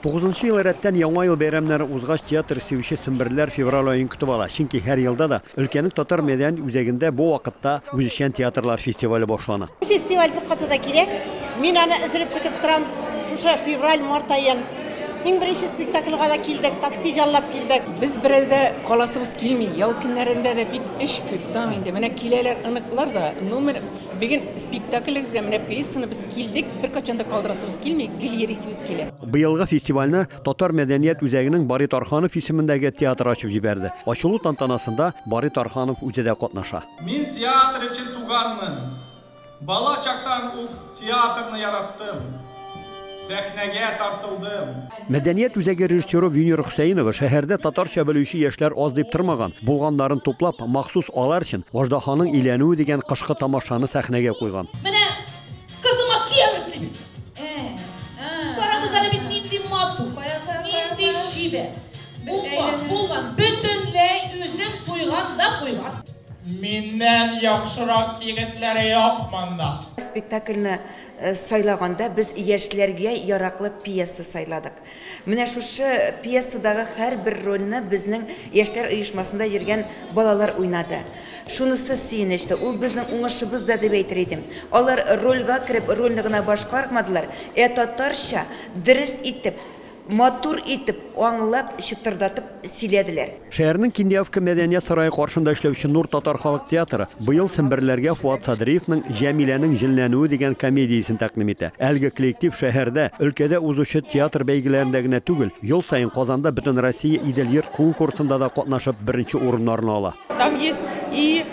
Тугызынчы ел рәттән Яңа ел бәйрәмнәре узгач, театр сөюче семберләр февраль аен көтеп ала, чөнки һәр елда да өлкәнең татар мәдәният үзәгендә бу вакытта үзешчән театрлар фестивале башлана. Бу фестиваль күп каты да кирәк. Мин аны өзелеп көтеп торам. Шушы февраль-март аен иң беренче спектакльга да килдек, такси җаллап килдек. Без берәү дә каласыбыз килми. Ял көннәрендә дә бик эш күп, таң инде. Менә киләләр оныклар да, ну, менә. Бүген спектаклебезгә, менә пьесаны без килдек, беркайчан да калдырасыбыз килми, гел йөрисебез килә. Быелгы фестивальне Татар мәдәният үзәгенең Барый Тарханов исемендәге театры ачып җибәрде. Ачылу тантанасында Барый Тарханов үзе дә катнаша. Мин театр өчен туганмын. Бала чактан ук театрны яраттым. Сәхнәгә тартылдым. Мәдәният үзәге режиссеры Винер Хөсәенова шәһәрдә татарча белүче яшьләр аз дип тормаган. Булганнарын туплап, махсус алар өчен Аждаһаның өйләнүе дигән кышкы тамашаны сәхнәгә куйган. Менә кызыма киямез дибез. Карагыз әле бит нинди матур, нинди чибәр. Булган, булган, бөтенләй үзем суйган да куйган. Миннән яхшырак егетләр юк монда. Спектакльне сайлаганда без яшьләргә яраклы пьеса сайладык. Менә шушы пьесадагы һәрбер рольне безнең яшьләр оешмасында йөргән балалар уйнады. Шунысы сөенечле, ул безнең уңышыбыз да дип әйтер идем. Алар рольгә кереп, рольне гына башкармадылар, ә татарча дөрес итеп Матур итеп, аңлап, чытырдатып сөйләделәр. Шәһәрнең Киндиавка мәдәният сарае каршында эшләүче Нур татар халык театры быел семберләргә Фуат Садриевның Җәмиләнең җенләнүе дигән комедиясен тәкъдим итә. Әлеге коллектив шәһәрдә, өлкәдә узучы театр бәйгеләрендә генә түгел, ел саен Казанда Бөтенроссия Идел йорт конкурсында да катнашып, беренче урыннарны ала. Там есть и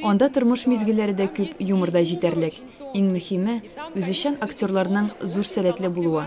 Анда тормыш мизгелләре дә күп, юмор да җитәрлек. Иң мөһиме, үзешчән актерларның зур сәләтле булуы.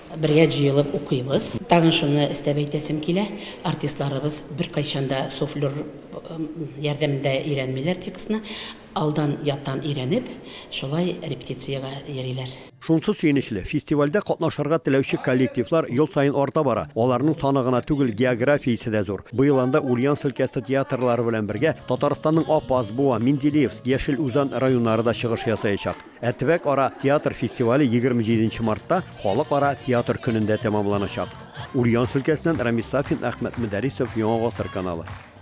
Бергә җыелып укыйбыз. Тагын шуны өстәп әйтәсем килә, артистларыбыз беркайчан да суфлер ярдәмендә өйрәнмиләр текстны, алдан яттан өйрәнеп, шулай репетициягә йөриләр. Шунсы сөенечле, фестивальдә катнашырга теләүче коллективлар ел саен арта бара. Аларның саны гына түгел, географиясе дә зур. Быел анда Ульяновск өлкәсе театрлары белән бергә Татарстанның Апас, Буа, Менделеевск, Яшел Үзан районнары да чыгыш ясаячак. Ә төбәк-ара театр фестивале егерме җиденче мартта, Халыкара театр көнендә тәмамланачак. Ульяновск өлкәсеннән Рамис Сафин, Әхмәт Мөдәрисов, Яңа гасыр каналы.